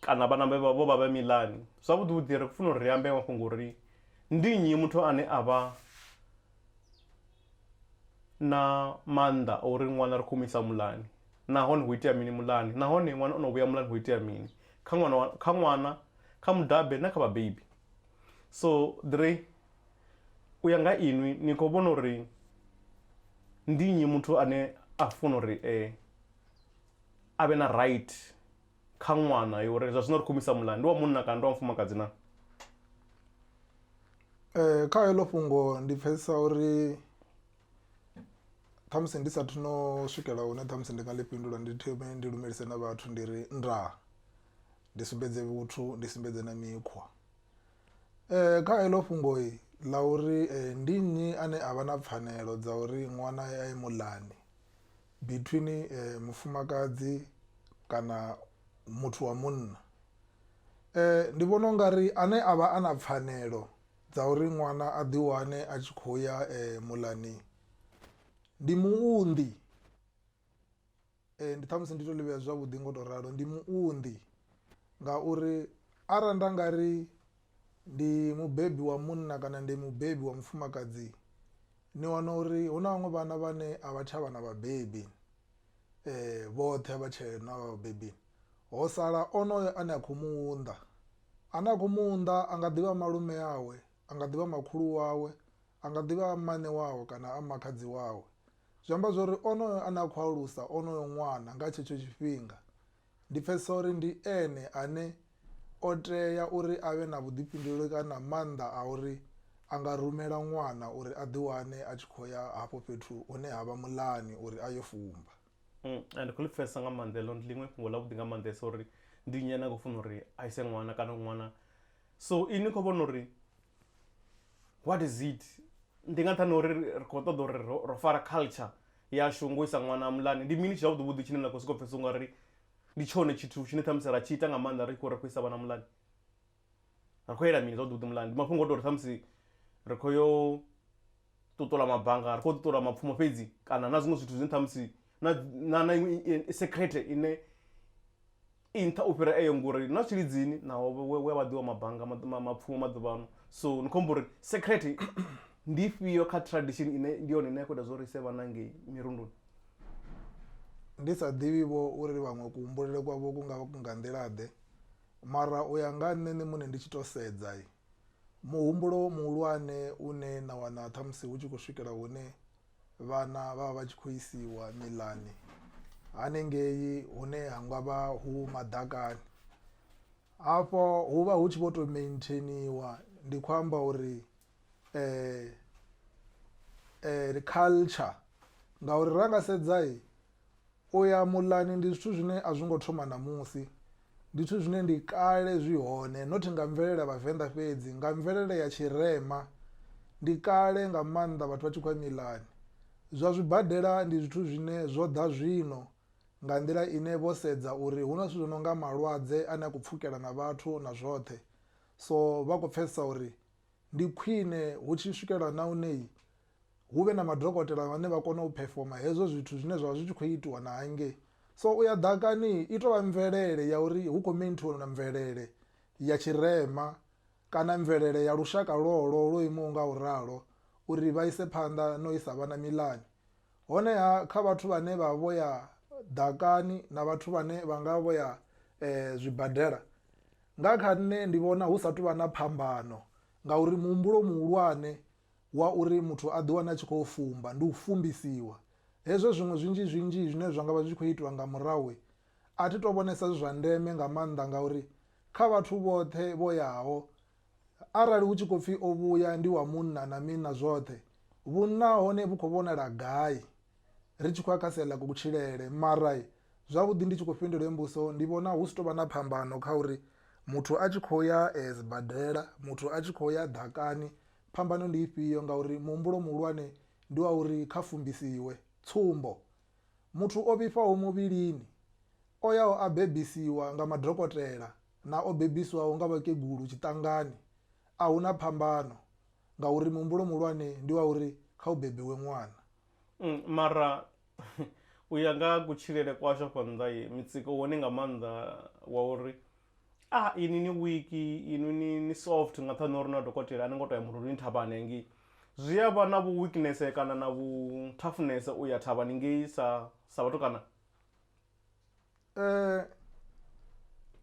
kana vhana vhe vha vho vha vhe miḽani. Zwavhuḓi vhuḓi ri khou funa uri ri ambe mafhungo uri ndi nnyi muthu ane a vha na maanḓa a uri ṅwana ri khou mu isa muḽani nahone ho itea mini muḽani nahone ṅwana o no vhuya muḽani ho itea mini kha ṅwana kha ṅwana kha mudabe na kha vhabebi. So ḓiri u ya nga inwi ni khou vhona uri ndi nnyi muthu ane a funa uri a vhe na right kha ṅwana ya uri zwa zwino ri khou misa muḽa ndi wa munna kana ndi wa mufumakadzi na um kha heḽo fhungo ndi pfhesesa uri ṱhamusi ndi sathu no swikela hune ṱhamusi ndi nga ḽi fhindula ndi thome ndi lumelise na vhathu ndi ri ndaa ndi sumbedze vhuthu ndi sumbedze na mikhwa um kha heḽo fhungo ḽa uri ndi nnyi ane a vha na pfhanelo dza uri ṅwana a ye muḽani Between mufumakadzi kana muthu wa munna ndi vhona u nga ri ane a vha a na pfhanelo dza uri ṅwana a ḓi wane a tshi khou ya muḽani ndi muunḓi, ndi ṱhamusi ndi to ḽi vhea zwavhuḓi ngo to ralo ndi muunḓi ngauri arali nda nga ri. ndi mubebi wa munna kana ndi mubebi wa mufumakadzi ni wana uri hu na vhaṅwe vhana vhane a vha tsha vha na vhabebi vhoṱhe a vha tshee na vhabebi, ho sala onoyo ane a kho mu unḓa ane a kho mu unḓa a nga ḓivha malume awe, a nga ḓivha makhulu wawe, a nga ḓivha a mmane wawe kana a makhadzi wawe. Zwi amba zwori onoyo ane a khou alusa onoyo ṅwana nga tshetsho tshifhinga Ndi pfesesa uri ndi ene ane o tea uri a vhe na vhuḓifhinduleli kana maanḓa a uri a nga rumela ṅwana uri a ḓi wane a tshi khou ya hafho fhethu hune ha vha muḽani uri a yo fumba. A ndi khou ḽi pfesesa nga maanḓa heḽo, ndi ḽiṅwe fhungo ḽa vhuḓi nga maanḓesa uri ndi nnyi ane a khou funa uri a ise ṅwana kana uri ṅwana. So inwi ni khou vhona uri what is it, ndi nga nṱhani ha uri ri khou ṱoḓa uri ro fara culture. yashu ngo isa ṅwana muḽani, ndi mini zwavhuḓi vhuḓi tshine na khou sokou pfhesesa ungari ndi tshone tshithu tshine ṱhamusi ra tshi ita nga maanḓa ri tshi khou ri khou isa vhana muḽani, ri khou yela mini zwavhuḓi vhuḓi muḽani, ndi mafhungo oto uri ṱhamusi ri khou yo ṱuṱula mabanga ri khou ṱuṱula mapfumo fhedzi kana na zwiṅwe zwithu zwine ṱhamusi na na na iṅwe secret ine. i nṱha u fhira eyo ngori na tshilidzini naho we we vha ḓiwa mabanga ma- ma- mapfumo maḓuvhano so ni khou amba uri secret ndi ifhio kha tradition ine ndi yone ine ya khou ita zwo ri ise vhana ngei mirunduni ndi sa ḓivhi vho uri vhaṅwe kuhumbulele kwavho ku nga vha ku nga nḓila ḓe mara u ya nga ha nṋe nṋe muṋe ndi tshi to sedza muhumbulo muhulwane une na wana ṱhamusi hu tshi khou swikela hune Vhana vha vha vha tshi khou isiwa miḽani haningei hune ha nga vha hu maḓakani, afho hu vha hu tshi vho to maintainiwa ndi khou amba uri culture ngauri ra nga sedza. U ya muḽani ndi zwithu zwine a zwi ngo thoma ṋamusi, ndi zwithu zwine ndi kale zwi hone not nga mvelele ya vhavenḓa fhedzi nga mvelele ya tshirema ndi kale nga maanḓa vhathu vha tshi khou ya miḽani. Zwa zwibadela ndi zwithu zwine zwo ḓa zwino nga nḓila ine vho sedza uri hu na zwithu zwi no nga malwadze a ne a khou pfhukela na vhathu na zwoṱhe, so vha khou pfhesesa uri ndi khwine hu tshi swikelwa na hune. hu vhe na madokotela vhane vha kona u phefoma hezwo zwithu zwine zwavha zwi tshi kho itiwa na hangei. So u ya ḓakani i to vha mvelele ya uri hu kho maintainer na mvelele ya tshirema kana mvelele ya lushaka lwolwo lwo imaho nga u ralo uri vha ise phanḓa na u isa vhana miḽani. Honeha kha vhathu vhane vha vho ya ḓakani na vhathu vhane vha nga vho ya zwibadela nga kha nṋe ndi vhona hu sa tou vha na phambano ngauri muhumbulo muhulwane wa uri muthu a ḓiwane a tshi khou fumba, ndi u fumbisiwa. Hezwo zwiṅwe zwinzhi-zwinzhi zwine zwa nga vha zwi tshi khou itwa nga murahu, a thi tou vhonesa zwi zwa ndeme nga maanḓa ngauri kha vhathu vhoṱhe vho yaho, arali hu tshi khou pfi o vhuya ndi wa munna na mini na zwoṱhe, vhunna ha hone vhu khou vhonala gai? ri tshi khou ya kha sia ḽa kutshilele mara zwavhuḓi ndi tshi khou fhindula heyi mbudziso ndi vhona hu si tovha na phambano kha uri muthu a tshi khou ya sibadela muthu a tshi khou ya ḓakani phambano ndi ifhio ngauri muhumbulo muhulwane ndi wa uri kha fumbisiwe. Tsumbo, muthu o vhifhaho muvhilini o yaho a bebisiwa nga madokotela na o bebisiwaho nga vhakegulu tshiṱangani ahuna phambano. ngauri muhumbulo muhulwane ndi wa uri kha hu bebiwe ṅwana. Mm, mara u ya nga kutshilele kwashu afha nnḓa mitsiko wone nga maanḓa wa uri a ah, ini ni wiki inu ni, ni soft nga nṱhani uri na dokotela a ni ngo to ya murunduni thavhani hangei zwi a vha na vhu weakness kana na vhu toughness u ya thavhani ngei sa sa vhatukana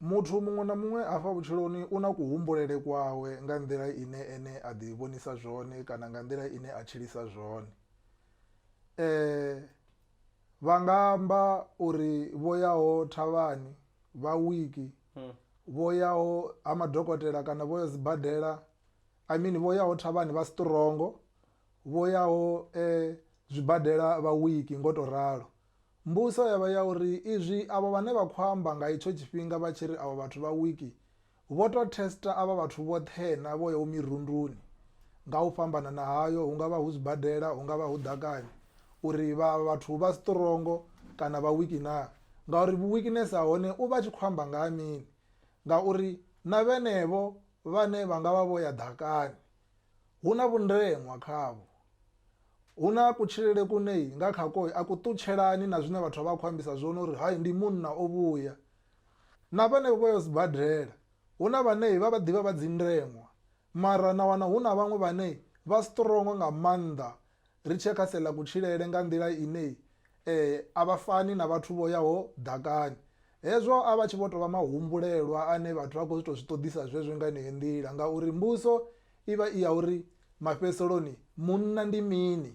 Muthu muṅwe na muṅwe afha vhutshiloni u na kuhumbulele kwawe nga nḓila ine ene a ḓi vhonisa zwone kana nga nḓila ine a tshilisa zwone. Vha nga amba uri vho yaho thavhani, vha wiki, vho yaho ha madokotela kana vho ya sibadela I mean vho yaho thavhani vha strong, vho yaho zwibadela vha wiki ngo to ralo. Mbuso ya vha ya uri izwi avho vhane vha khou amba nga itsho tshifhinga vha tshi ri avho vhathu vha wiki vho tou thesta avha vhathu vhoṱhe-na vho yaho mirunduni nga u fhambanana hayo, hu nga vha hu zwibadela, hu nga vha hu ḓakani, uri vha avha vhathu vha sṱrongo kana vha wiki na, ngauri vhu-wikinese ha hone u vha a tshi khou amba nga ha mini? Ngauri na vhenevho vhane vha nga vha vho ya ḓakani, Hu na vhundeṅwa khavho. Hu na kutshilele kune nga khako a ku ṱutshelani na zwine vhathu vha vha khou ambisa zwone uri hai ndi munna o vhuya. Na vhenevho vha yo sibadela hu na vhane vha vha ḓivha vha dzi ndeṅwa mara na wana hu na vhaṅwe vhane vha strong nga maanḓa Ri tshee kha sia ḽa kutshilele nga nḓila ine a vha fani na vhathu vho yaho ḓakani. Hezwo a vha tshi vho tou vha mahumbulelwa ane vhathu vha khou tou zwi ṱoḓisa zwezwo nga yeneyo nḓila ngauri mbuso i vha i ya uri mafhedziseloni munna ndi mini.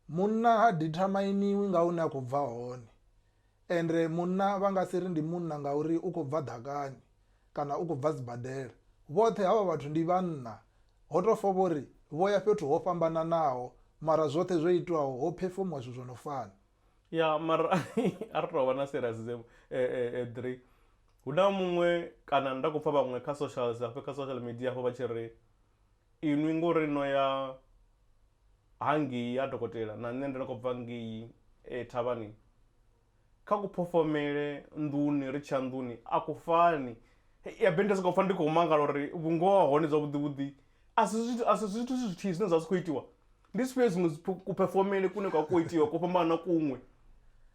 Munna ha dithamainiwi nga hune a khou bva hone. Ende munna vha nga si ri ndi munna ngauri u khou bva ḓakani kana u khou bva sibadela. Vhoṱhe havha vhathu ndi vhanna. Ho tou fa vho ri vho ya fhethu ho fhambananaho mara zwoṱhe zwo itwaho ho phefomiwa zwithu zwo no fana. Ya, mara a ri tou vha na serious dzevho Edri. Hu na muṅwe kana nda khou pfa vhaṅwe kha socials hafha kha social media hafha vha tshi ri. inwi ngori no ya ha ngei ha dokotela na nṋe ndo no khou bva ngei thavhani, kha ku phofhomele nḓuni ri tshiya nḓuni a ku fani. Habe ndi soko pfha ndi khou mangala uri vhungoho ha hone zwavhuḓi vhuḓi a si zwithu a si zwithu zwithihi zwine zwa vha zwi kho itiwa, ndi zwifhio zwiṅwe dzi ku phefomele kune kwa kho itiwa ko fhambana na kuṅwe,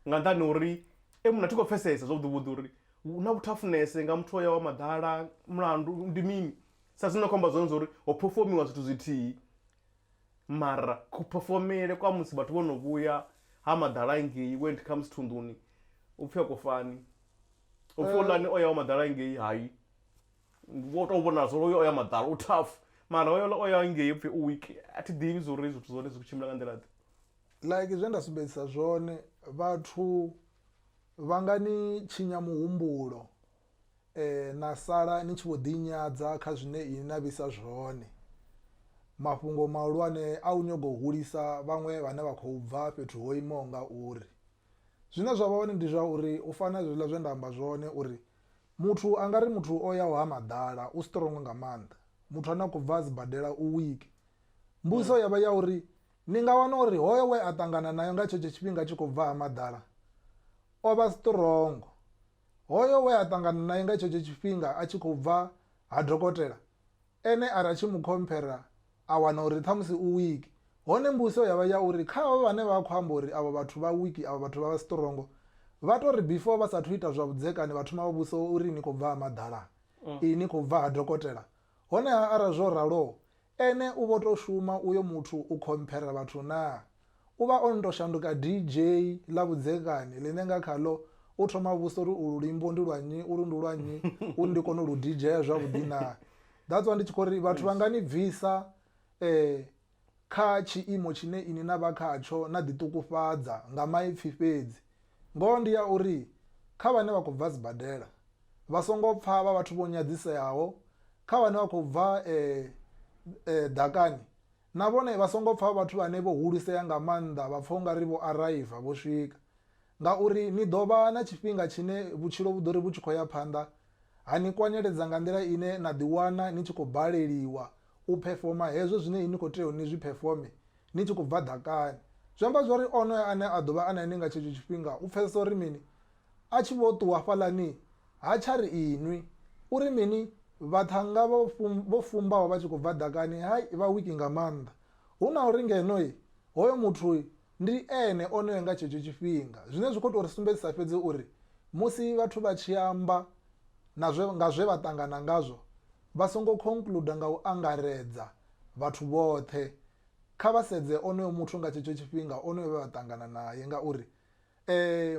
nga nṱhani ha uri e muṋe a thi khou pfhesesa zwavhuḓi vhuḓi uri hu na vhuthafunese nga muthu o yaho ha maḓala mulandu ndi mini, Sa zwine na khou amba zwone zwa uri ho phefomiwa zwithu zwithihi, mara kuphefomele kwa musi vhathu vho no vhuya ha maḓala ngei when it comes to nḓuni hu pfi a ku fani. Hu pfi houḽani o yaho maḓala ngei hai, wo tou vhonala zwa uri hoyu o ya maḓala u tough mara hoyouḽa o ya ngei hu pfi u weak. A thi ḓivhi zwa uri zwithu zwa hone zwi khou tshimbila nga nḓila-ḓe. Like zwe nda sumbedzisa zwone, vhathu vha nga ni tshinya muhumbulo na sala ni tshi vho ḓinyadza kha zwine inwi na vhisa zwone. Mafhungo mahulwane a u nyaga u hulisa vhaṅwe vhane vha khou bva fhethu ho imaho nga uri. Zwine zwa vha hone ndi zwa uri u fana na zwiḽa zwe nda amba zwone uri muthu a nga ri muthu o yaho ha maḓala u strong nga maanḓa, muthu ane a khou bva sibadela u weak. Mbudziso ya vha ya uri ni nga wana uri hoyo we a ṱangana nae nga tshenetsho tshifhinga a tshi khou bva ha maḓala o vha strong. Hoyo we a ṱangana nae nga tshetsho tshifhinga a tshi khou bva ha dokotela, ene a ri a tshi mu khomphera a wana uri ṱhamusi u wiki. Hone mbuso ya vha ya uri kha avho vhane vha khou amba uri avho vhathu vha wiki, avho vhathu vha vha sṱrongo, vha tou ri before vha sa athu ita zwa vhudzekani vha thoma vha vhudzisa uri ni khou bva ha maḓalaa? Ii, ni khou bva ha dokotela? Honeha arali zwo ralo, ene u vho tou shuma uyo muthu u khomphera vhathu naa? U vha o no tou shanduka DJ ḽa vhudzekani ḽine nga khaḽo u thoma vhusa uri ulu luimbo ndi lwa nnyi, ulu ndi lwa nnyi uri ndi kone u lu DJ-a zwavhuḓi naa? That's why ndi tshi khou ri vhathu vha nga ni bvisa kha tshiimo tshine inwi na vha khatsho na ḓiṱukufhadza nga maipfi fhedzi. Ngoho ndi ya uri kha vhane vha khou bva sibadela, vha songo pfa vha vhathu vho nyadziseaho, kha vhane vha khou bva e, e, ḓakani, na vhone vha songo pfa vha vhathu vhane vho hulisea nga maanḓa vha pfa u nga ri vho araiva, vho swika. Ngauri ni ḓo vha na tshifhinga tshine vhutshilo vhu ḓo ri vhu tshi khou ya phanḓa ha ni kwanyeledza nga nḓila ine na ḓiwana ni tshi khou baleliwa U phefoma hezwo zwine ni khou tea uri ni zwi phefome ni tshi khou bva ḓakani. Zwi amba zwa uri onoyo ane a ḓo vha a na inwi nga tshetsho tshifhinga u pfesesa uri mini? A tshi vho ṱuwa hafhaḽani, ha tsha ri inwi. Uri mini? Vhaṱhannga vha vho fumbaho vha tshi khou bva ḓakani, hai, vha wiki nga maanḓa. Hu na uri ngeno, hoyo muthu ndi ene onoyo nga tshetsho tshifhinga. Zwine zwi khou tou ri sumbedzisa fhedzi uri musi vhathu vha tshi amba na zwe, nga zwe vha ṱangana ngazwo, vha songo khonkluda nga u angaredza vhathu vhoṱhe, kha vha sedze onoyo muthu nga tshetsho tshifhinga, onoyo vhe vha ṱangana nae. Ngauri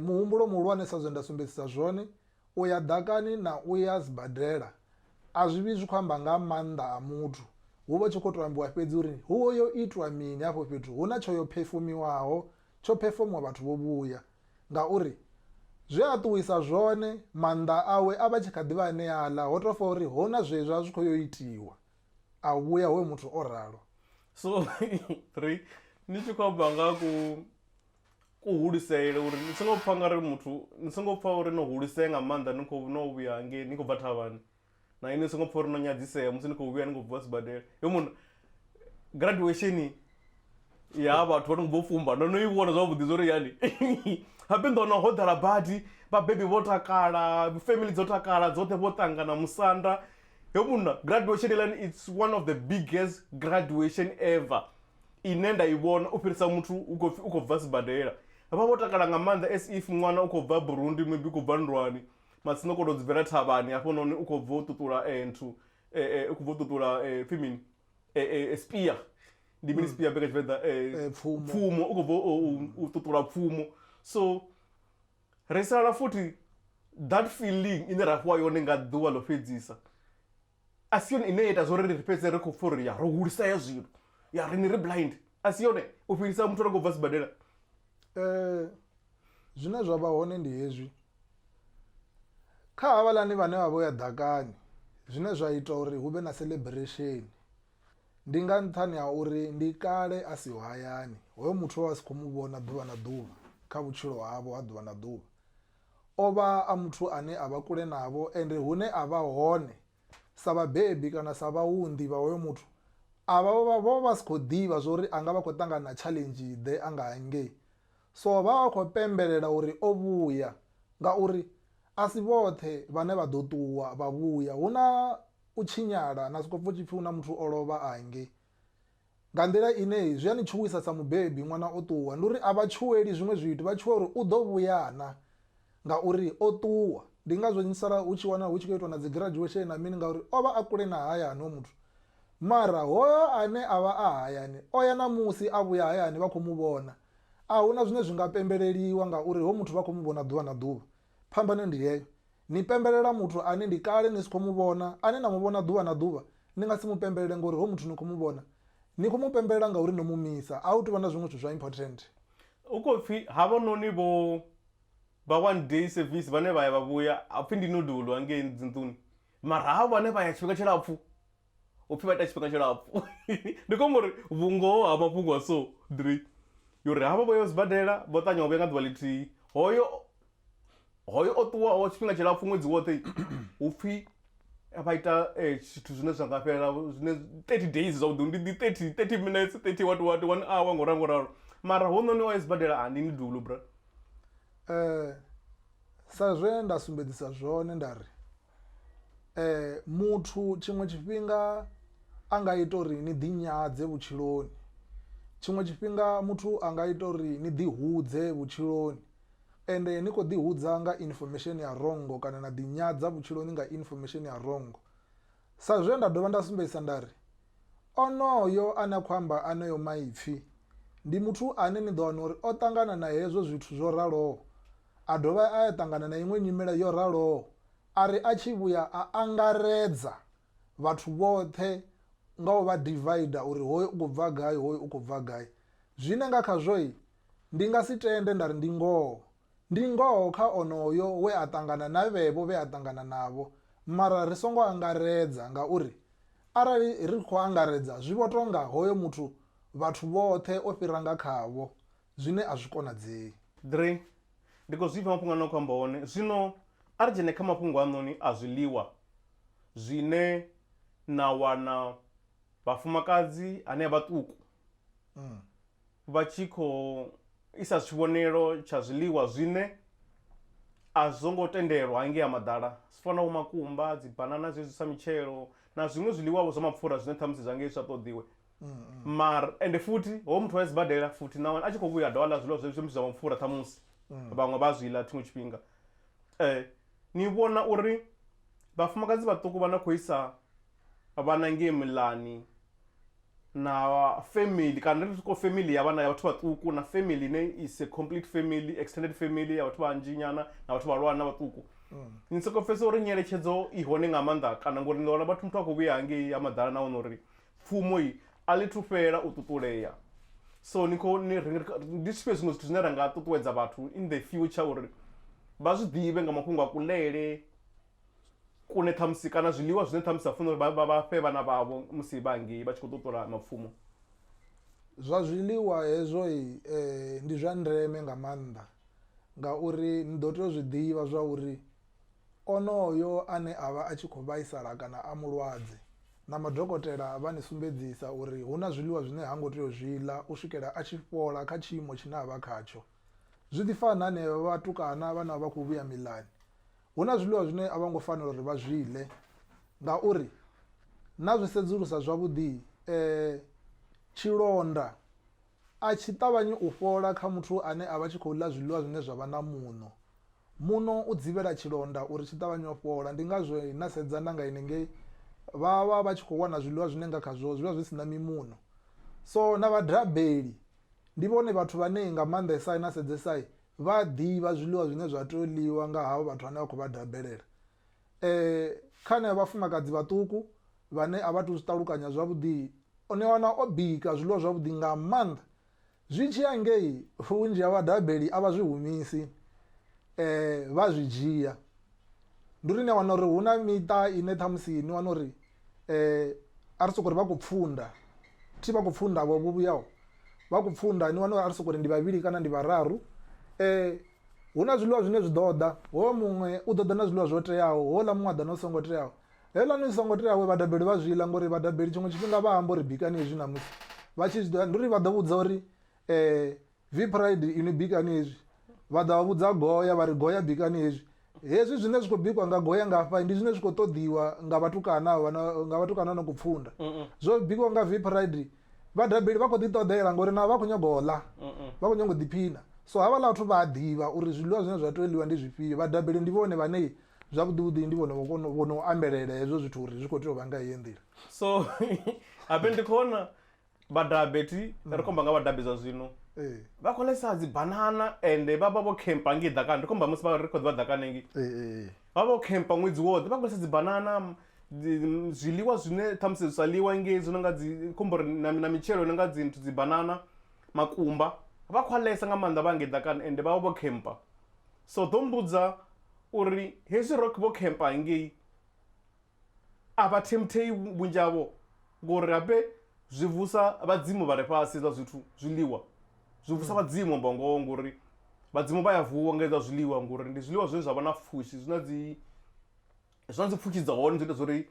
muhumbulo muhulwane sa zwe nda sumbedzisa zwone, u ya ḓakani na u ya sibadela a zwi vhi zwi khou amba nga maanḓa a muthu, hu vha hu tshi khou tou ambiwa fhedzi uri ho yo itwa mini hafho fhethu, hu na tsho yo phefumiwaho, tsho phefomiwa vhathu vho vhuya. Ngauri, zwe a ṱuwisa zwone, maanḓa awe a vha tshi kha ḓi vha aneaḽa, ho tou fa uri ho na zwe zwa zwi khou yo itiwa, a vhuya hoyo muthu o ralo. So, ri ni tshi khou amba nga ku, kuhulisele, uri ni songo pfa nga ri muthu, ni songo pfa uri no hulisea nga maanḓa ni khou, no vhuya hangei ni khou bva thavhani. na inwi ni songo pfha uri no nyadzisea musi ni khou vhuya ni khou bva sibadela hoyu munna graduation ya vhathu vha no bvo fumba ndo no i vhona zwavhuḓi zwo ri hani habe ndo wana ho ḓala badi vhabebi vho takala family dzo takala dzoṱhe vho ṱangana musanda hoyu munna graduation heiḽani it's one of the biggest graduation ever ine nda i vhona u fhirisa muthu u khou pfhi u khou bva sibadela vha vho takala nga maanḓa as if ṅwana u khou bva burundi maybe u khou bva nndwani Matsina u khou tou dzi bvela thavhani hafhanoni u khou bva u ṱuṱula nthu u khou bva u ṱuṱula pfhi mini spia ndi mini spia be kha tshivenḓa pfumo u khou bva u ṱuṱula pfumo so ri sala futhi that feeling ine ra fhiwa yone nga ḓuvha ḽo fhedzisa a si yone ine ya ita zwori ri fhedze ri khou pfha uri ya ro hulisea zwino ya ri ni ri blind a si yone u fhirisa muthu ro khou bva sibadela um zwine zwa vha hone ndi hezwi kha havhaḽani vhane vha vho ya ḓakani zwine zwa ita uri hu vhe na celebration ndi nga nṱhani ha uri ndi kale a siho hayani hoyo muthu a si kho mu vhona ḓuvha na ḓuvha kha vhutshilo havho ha ḓuvha na ḓuvha O vha a muthu ane a vha kule navho, ende hune a vha hone, sa vhabebi kana sa vhaunḓi vha hoyo muthu, a vha, vho vha vha si khou ḓivha zwa uri a nga vha a khou ṱangana na tshaḽenzhi-ḓe a nga hangei. So vha vha vha khou pembelela uri o vhuya, ngauri a si vhoṱhe vhane vha ḓo ṱuwa vha vhuya. Hu na u tshinyala, na sokou pfa hu tshi pfi hu na muthu o lovha a hangei. Nga nḓila ine hei zwi a ni tshuwisa sa mubebi, ṅwana o ṱuwa. Ndi uri a vha tshuweli zwiṅwe zwithu, vha tshuwa uri u ḓo vhuya na, ngauri o ṱuwa. Ndi ngazwo ni sala hu tshi wana hu tshi khou itwa na dzi graduation na mini ngauri o vha a kule na hayani hoyo muthu. Mara hoyo ane a vha a hayani o ya na musi a vhuya hayani vha khou mu vhona. A hu na zwine zwi nga pembeleliwa ngauri hoyu muthu vha khou mu vhona ḓuvha na ḓuvha. Phambano ndi heyo. Ni pembelela muthu ane ndi kale ni si khou mu vhona, ane na mu vhona ḓuvha na ḓuvha. Ni nga si mu pembelele ngauri hoyu muthu ni khou mu vhona. Ni khou mu pembelela ngauri no mu misa. A hu tou vha na zwiṅwe zwithu zwa important. Hu khou pfi havhanoni vho vha one day service vhane vha ya vha vhuya ha pfi ndi no duelwa ngei dzi nḓuni mara havho vhane vha ya tshifhinga tshilapfu u pfhi vha ita tshifhinga tshilapfhu ndi khombo uri vhungoho ha mafhungo a so three yo uri havha vho ya sibadela vho ṱanya wa vhuya nga ḓuvha ḽithihi hoyo hoyo o ṱuwaho tshifhinga tshilapfhu ṅwedzi woṱhe hu pfhi vha ita eh, zwithu zwine zwa nga fhelela zwine 30 days zwavhuḓi ndi ndi 30 30 minutes 30 what what one hour ngo ralo ngo ralo mara ho noni o ya sibadela a ndi ni dulo bra Eh, sa zwe nda sumbedzisa zwone nda ri Muthu tshiṅwe tshifhinga a nga ita uri ni ḓi nyadze vhutshiloni, tshiṅwe tshifhinga muthu a nga ita uri ni ḓi hudze vhutshiloni ende ni kho ḓi hudza nga infomesheni ya wrong kana na ḓi nyadza vhutshiloni nga infomesheni ya wrong. Sa zwe nda dovha nda sumbedzisa nda ri onoyo ane a khou amba aneyo maipfi ndi muthu ane ni ḓo wana uri o ṱangana na hezwo zwithu zwo raloho a dovha a ya ṱangana na iṅwe nyimele yo raloho, a ri a tshi vhuya a angaredza vhathu vhoṱhe nga u vha divider uri hoyu u khou bva gai, hoyu u khou bva gai. Zwine nga khazwo ndi nga si tende nda ri ndi ngoho. Ndi ngoho kha onoyo we a ṱangana na vhevho vhe a ṱangana navho, mara ri songo angaredza ngauri arali ri khou angaredza zwi vho tou nga hoyo muthu vhathu vhoṱhe o fhira nga khavho, zwine a zwi konadzei. Dre, Ndi khou zwipfa mafhungo ane na khou amba one. Zwino a ri dzhene kha mafhungo a noni a zwiḽiwa zwine na wana vhafumakadzi hanea vhaṱuku vha tshi khou isa tshivhonelo tsha zwiḽiwa zwine a zwo ngo tendelwa hangei ha maḓala zwi fana vho makumba, dzibanana zwezwi sa mitshelo na zwiṅwe zwiḽiwa vho zwa mapfura zwine ṱhamusi zwa ngei zwi sa ṱoḓiwe. mara ende futhi hoyo muthu wa sibadela futhi na wana a tshi khou vhuya a dovha ḽa zwiḽiwa zwe zwi mbidzwa nga mupfhura ṱhamusi vhaṅwe vha zwi ḽa tshiṅwe tshifhinga um ni vhona uri vhafumakadzi vhaṱuku vha na khou isa vhana ngei muḽani na family kana ri tshi sokou family ya vhana ya vhathu vhaṱuku na family ine i si complete family extended family ya vhathu vhanzhi nyana na vhathu vhahulwane na vhaṱuku ni soko pfhesesa uri nyeletshedzo i hone nga maanḓa kana ngori ni wana vhathu muthu a khou vhuya hangei ha maḓala na wana uri pfumo i a ḽi thu fhela u ṱuṱulea so ni khou ni ri ndi zwifhio zwiṅwe zwithu zwine ra nga ṱuṱuwedza vhathu in the future uri vha zwi ḓivhe nga mafhungo a kuḽele kune ṱhamusi kana zwiḽiwa zwine ṱhamusi vha funa uri vha vha fhe vhana vhavho musi vha ngei vha tshi khou ṱuṱula mapfumo zwa zwiḽiwa hezwo ndi zwa ndeme nga maanḓa ngauri ni ḓo tea u zwi ḓivha zwa uri Onoyo ane a vha a tshi khou vhaisala kana a mulwadze, na madokotela vha ni sumbedzisa uri hu na zwiḽiwa zwine ha ngo tea u zwi ḽa u swikela a tshi fhola kha tshiimo tshine a vha khatsho. Zwi ḓi fana na henevha vhatukana vhane vha vha khou vhuya miḽani. Hu na zwiḽiwa zwine a vho ngo fanela uri vha zwi ḽe ngauri na zwi sedzulusa zwavhuḓi tshilonda a tshi ṱavhanyi u fhola kha muthu ane a vha tshi khou ḽa zwiḽiwa zwine zwa vha na muṋo. Muṋo u dzivhela tshilonda uri tshi ṱavhanye u fhola. Ndi ngazwo he na sedza na nga henengei vha vha vha tshi khou wana zwiḽiwa zwine nga khazwo zwi vha zwi si na mimuṋo. So na vhadrabeli ndi vhone vhathu vhane nga maanḓesa na sedzesa vha a ḓivha zwiḽiwa zwine zwa tea u ḽiwa nga havho vhathu vhane vha khou vha dabelela. E kha eneo vhafumakadzi vhaṱuku vhane a vha athu zwi ṱalukanya zwavhuḓi, u ni wana o bika zwiḽiwa zwavhuḓi nga maanḓa. Zwi tshi ya ngei, vhunzhi ha vhadabeli a vha zwi humisi, vha zwi dzhia. Ndi uri ni a wana uri hu na miṱa ine ṱhamusi ni wana uri a ri soko ri vha khou pfhunda, thi vha khou pfhunda vho vhuyaho, vha khou pfhunda ni wana uri a ri soko ri ndi vhavhili kana ndi vhararu. Hu na zwiḽiwa zwine zwi ḓo ḓa, hoyo muṅwe u ḓo ḓa na zwiḽiwa zwo teaho, houḽa muṅwe a ḓa na zwi songo teaho. Heiḽani zwi songo teaho vhaḓabeli vha zwi ḽa ngori vhaḓabeli tshiṅwe tshifhinga vha amba uri bikani hezwi ṋamusi vha tshi zwi ḓivha ndi uri vha ḓo vhudza uri v pride inwi bikani hezwi vha ḓa vha vhudza goya vha ri goya bikani hezwi hezwi zwine zwi khou bikiwa nga goya nga hafha ndi zwine zwi khou ṱoḓiwa nga vhatukana nga vhatukana no khou pfunda zwo bikiwa nga v pride Vhaḓabeli vha khou ḓi ṱoḓela ngori navho vha khou nyaga u ḽa, vha khou nyaga u ḓiphina. So havhaḽa vhathu vha a ḓivha uri zwiḽiwa zwine zwa tea u ḽiwa ndi zwifhio. Vhaḓabeli ndi vhone vhane zwavhuḓi vhuḓi ndi vhone vho no ambelela hezwo zwithu uri zwi khou tea u vha nga heyi nḓila. So habe ndi khou vhona vhadabethi ri khou amba nga vhadabe zwa zwino vha khou ḽesa dzi banana ende vha vha vho khempa ngei ḓakani ri khou amba musi ri kho ḓivha ḓakani hangei. Vha vha vho khempa ṅwedzi woṱhe vha khou lisa dzibanana zwiḽiwa zwine ṱhamusi zwi sa ḽiwa ngei zwi no nga dzi khombori na mitshelo no nga dzi nthu dzibanana, makumba. Vha khou a ḽesa nga maanḓa vha hangei ḓakani ende vha vha vho khempa. So ḓo mmbudza uri hezwi ro vho khempa hangei a vha themthei vhunzhi havho ngori habe zwi vusa vhadzimu vha re fhasi hezwa zwithu zwiḽiwa zwi vusa vhadzimu amba ngoho ngori vhadzimu vha ya vuwa nga hezwa zwiḽiwa ngori ndi zwiḽiwa zwine zwa vha na pfhushi zwi na dzi zwi na dzi pfhushi dza hone zwi ita zwa uri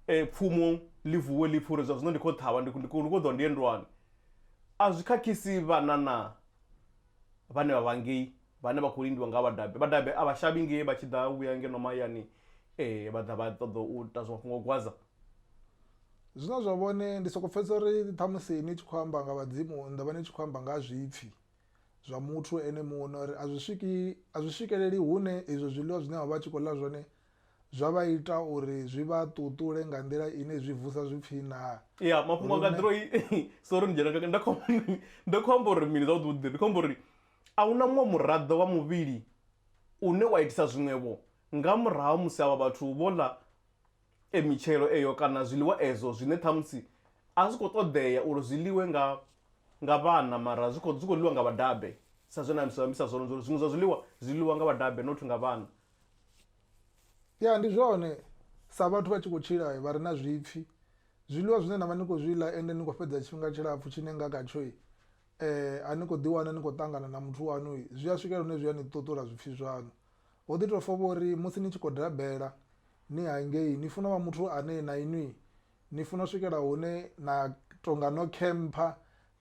pfhumo ḽi vuwe ḽi pfhe uri zwa zwino ndi khou ṱhavha ndi khou ndi khou ṱoḓa ndi ye nndwani. A zwi khakhisi vhana naa vhane vha vha ngei? vhane vha khou lindiwa nga vhadabe. Vhadabe a vha shavhi nge vha tshi ḓa u vhuya ngeno mahayani vha ḓa vha ṱoḓa u ita zwa mafhungo a u gwadza. Zwine zwa vhone, ndi sokou pfhesesa uri ṱhamusi ni tshi khou amba nga vhadzimu ni ḓo vha ni tshi khou amba nga ha zwipfi zwa muthu ene muṋe uri a zwi swiki, a zwi swikeleli hune izwo zwiḽiwa zwine vha vha tshi khou ḽa zwone zwa vha ita uri zwi vha ṱuṱule nga nḓila ine zwi vusa zwipfi naa. Ya, mafhungo anga a ḓiroi sorry ni dzhena nga nda khou amba uri mini zwavhuḓi vhuḓi, ndi khou amba uri. A hu na muṅwe muraḓo wa muvhili une wa itisa zwiṅwe-vho nga murahu ha musi avha vhathu vho ḽa e mitshelo eyo kana zwiḽiwa ezwo zwine ṱhamusi a zwi khou ṱoḓea uri zwi ḽiwe nga nga vhana mara zwi khou zwi khou ḽiwa nga vhadabe sa zwe na zwi ambisa zwone zwa uri zwiṅwe zwa zwiḽiwa zwi ḽiwa nga vhadabe not nga vhana. Ya ndi zwone sa vhathu vha tshi khou tshila vha re na zwipfi zwiḽiwa zwine na vha ni khou zwi ḽa ende ni khou fhedza tshifhinga tshilapfu tshine nga khatsho eh, a ni khou ḓiwana ni khou ṱangana na muthu waṋu zwi a swikela hune zwi a ni ṱuṱula zwipfhi zwaṋu ho ḓi tou fa vho uri musi ni tshi khou dabela ni hangei ni funa vha muthu ane na inwi ni funa u swikela hune na tonga no khempha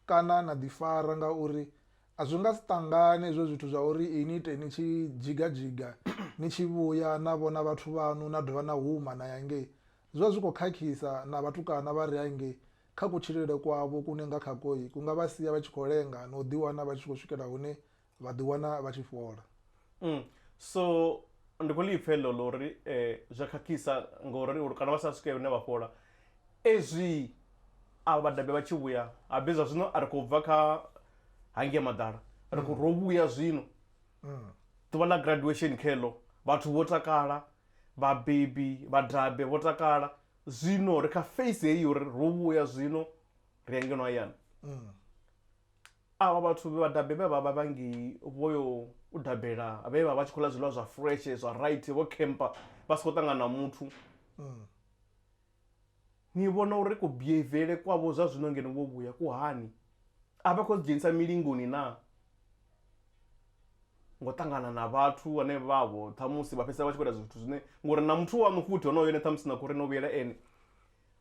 kana na ḓifara ngauri a zwi nga si ṱangane hezwo zwithu zwa uri ini ite ni tshi dzhiga dzhiga ni tshi vhuya na vhona vhathu vhaṋu na dovha na huma na ya ngei zwi vha zwi khou khakhisa na vhatukana vha re hangei kha kutshilele kwavho kune nga kha koi ku nga vha sia vha tshi khou lenga na u ḓiwana vha tshi khou swikela hune vha ḓiwana vha tshi fhola. Umm so ndi khou ḽi pfa heḽo ḽo ri zwi a khakhisa ngori uri kana vha sa swike hune vha fhola ezwii avha vhadabe vha tshi vhuya habe zwa zwino a ri khou bva kha hangei maḓala ri khou ro vhuya zwino ḓuvha ḽa graduation kheḽo vhathu vho takala vhabebi vhadabe vho takala Zwino ri kha face heyi uri ro vhuya zwino ri ya ngeno hayani. Mm. Avha vhathu vhe vha dabe vhe vha vha vha ngei vho yo u dabela vhe vha vha tshi khou ḽa zwiḽiwa zwa fresh zwa right vho camper vha si khou ṱangana na muthu. Mm. Ni vhona uri ku behaviour kwavho zwa zwino ngeno vho vhuya ku hani? A vha khou ḓi dzhenisa milingoni naa? ngo ṱangana na vhathu vhane vha vho ṱhamusi vha fhedzisela vha tshi khou ita zwithu zwine ngori na muthu wa mukhuthi honoyo ene ṱhamusi na khouri no vhuyela ene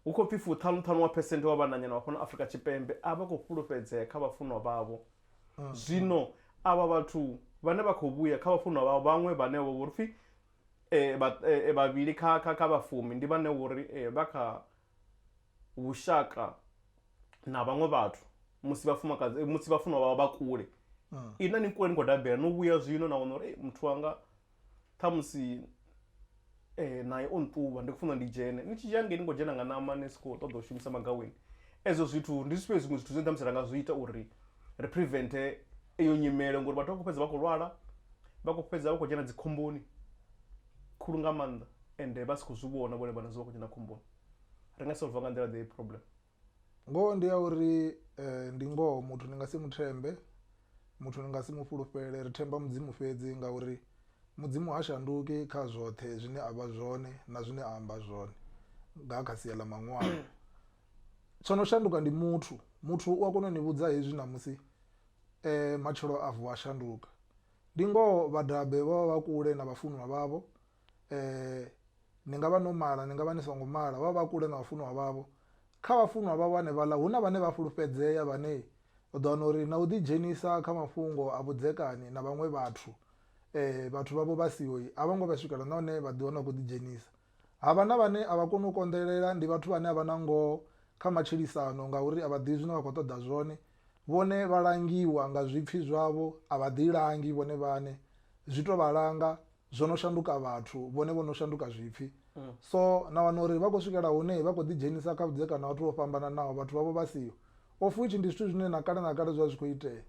hu khou pfhi fuṱhanu ṱhanu wa phesenthe wa vhananyana vha fhano Afurika Tshipembe a vha khou fhulufhedzea kha vhafunwa vhavho zwino avha vhathu vhane vha khou vhuya kha vhafunwa vhavho vhaṅwe vhane vho vhori pfhi vhavhili kha kha kha vha fumi ndi vhane vhori vha kha vhushaka na vhaṅwe vhathu musi vhafumakadzi eh, musi vhafunwa vhavha vha kule mm. ini na ni kule ni khou dabela no vhuya zwino na wana uri eh, muthu wanga ṱhamusi eh, naye o nṱuvha ndi khou funa ndi dzhene ni tshi dzhia ngei ni khou dzhena nga ṋama ni si khou ṱoḓa u shumisa magaweni ezwo zwithu ndi zwifhio zwiṅwe zwithu zwine ṱhamusi ra nga zwi ita uri ri prevente eyo nyimele ngori vhathu vha khou fhedza vha khou lwala vha khou fhedza vha khou dzhena dzikhomboni khulu nga maanḓa ende vha si khou zwi vhona vhone vhaṋe zwo vha khou dzhena khomboni ri nga solver nga nḓila ḓe problem ngoho ndi ya uri eh, ndi ngoho muthu ni nga si muthembe muthu ni nga si mufhulufhele ri themba mudzimu fhedzi ngauri mudzimu ha shanduki kha zwoṱhe zwine a vha zwone na zwine a amba zwone nga kha sia ḽa maṅwalo tsho no shanduka ndi muthu muthu u a kona u ni vhudza hezwi ṋamusi um matshelo a vuwa a shanduka Ndi ngoho vhadabe vha vha vha kule na vhafunwa vhavho, ni nga vha no mala, ni nga vha ni songo mala, vha vha vha kule na vhafunwa vhavho. Kha vhafunwa vhavho hanefhaḽa hu na vhane vha fhulufhedzea vhane u ḓo wana uri na u ḓidzhenisa kha mafhungo a vhudzekani na vhaṅwe vhathu, vhathu vhavho vha siho, a vho ngo vha swikela nahone vha ḓi wana vha khou ḓidzhenisa. Ha vha na vhane a vha koni u konḓelela, ndi vhathu vhane a vha na ngoho kha matshilisano ngauri a vha ḓivhi zwine vha khou ṱoḓa zwone. Vhone vha langiwa nga zwipfi zwavho, a vha ḓilangi vhone vhaṋe. Zwi tou vha langa, zwo no shanduka vhathu, vhone vho no shanduka zwipfi. So, na wana uri vha khou swikela hune vha khou ḓidzhenisa kha vhudzekani ha vhathu vho fhambananaho, vhathu vhavho vha siho. Of which ndi zwithu zwine na kale na kale zwo vha zwi khou itea.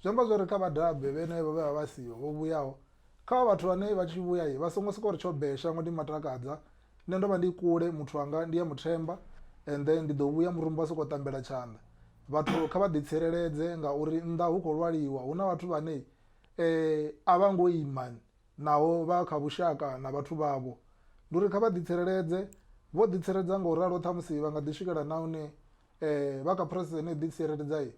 Zwi amba zwa uri kha vha dabe vhenevho vhe vha vha vha siho, vho vhuyaho. Kha vhathu vhane vha tshi vhuya, vha songo sokou ri tsho bee, shango ḽi matakadza. nṋe ndo vha ndi kule muthu wanga ndi a muthemba ende ndi ḓo vhuya murumba soko tambela tshanḓa vhathu kha vha ḓi tsireledze ngauri nnḓa hu kho lwaliwa hu na vhathu vhane a vha ngo ima naho vha kha vhushaka na vhathu vhavho ndi uri kha vha ḓi tsireledze vho ḓi tsireledza nga u ralo ṱhamusi vha nga ḓi swikelela na hune vha kha phurosese ine ḓi tsireledza i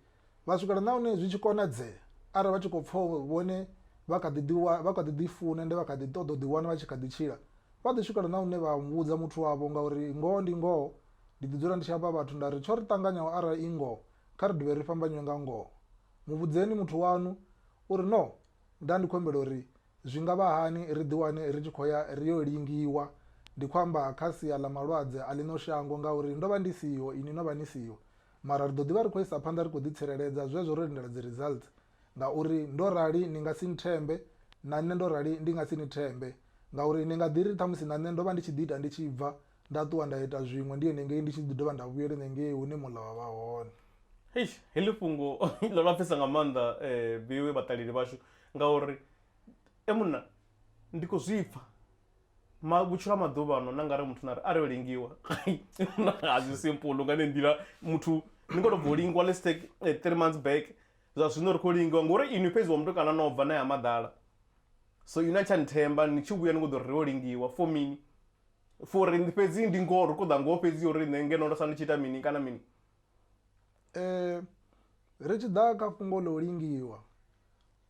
vha swikela na hune zwi tshi konadzea arali vha tshi khou pfha uri vhone vha kha ḓi ḓi wa vha kha ḓi ḓi funa ende vha kha ḓi ṱoḓa u ḓi wana vha tshi kha ḓi tshila vha ḓi swikela na hune vha vhudza muthu wavho ngauri ngoho ndi ngoho ndi ḓi dzula ndi tshi amba vhathu nda ri tsho ri ṱanganyaho arali i ngoho kha ri dovhe ri fhambanyiwe nga ngoho mu vhudzeni muthu waṋu uri no nda ndi khou humbela uri zwi nga vha hani ri ḓi wane ri tshi khou ya ri yo lingiwa ndi khou amba kha sia ḽa malwadze a ḽino shango ngauri ndo vha ndi siho ini no vha ni siho Mara ri ḓo ḓi vha ri khou isa phanḓa ri khou ḓitsireledza zwezwo ro lindela dziresults ngauri ndo rali ni nga si nthembe na nṋe ndo rali ndi nga si ni thembe ngauri ni nga ḓi ri ṱhamusi na nṋe ndo vha ndi tshi ḓi ita ndi tshi bva nda ṱuwa nda ita zwiṅwe ndi henengei ndi tshi ḓi dovha nda vhuyela henengei hune muḽa wa vha hone. Eish, heḽi fhungo ḽo lapfesa nga maanḓa vhoe vhaṱaleli vhashu ngauri e munna ndi khou zwi pfa. ma vhutshilo ha maḓuvha ano na nga re muthu na ri a ri o lingiwa a zwi simple nga ne nḓila muthu ni khou tou bva u lingiwa let's take eh, three months back zwa zwino ri khou lingiwa ngori inwi fhedzi wa mutukana no bva na ya maḓala so inwi a tsha nthemba ni tshi vhuya ni khou ḓo ri ri o lingiwa for mini for ri fhedzi ndi ngoho ri khou ḓa ngoho fhedzi uri nṋe ngeno ndo sala ndi tshi ita mini kana mini Eh, ri tshi ḓa kha fhungo ḽa u lingiwa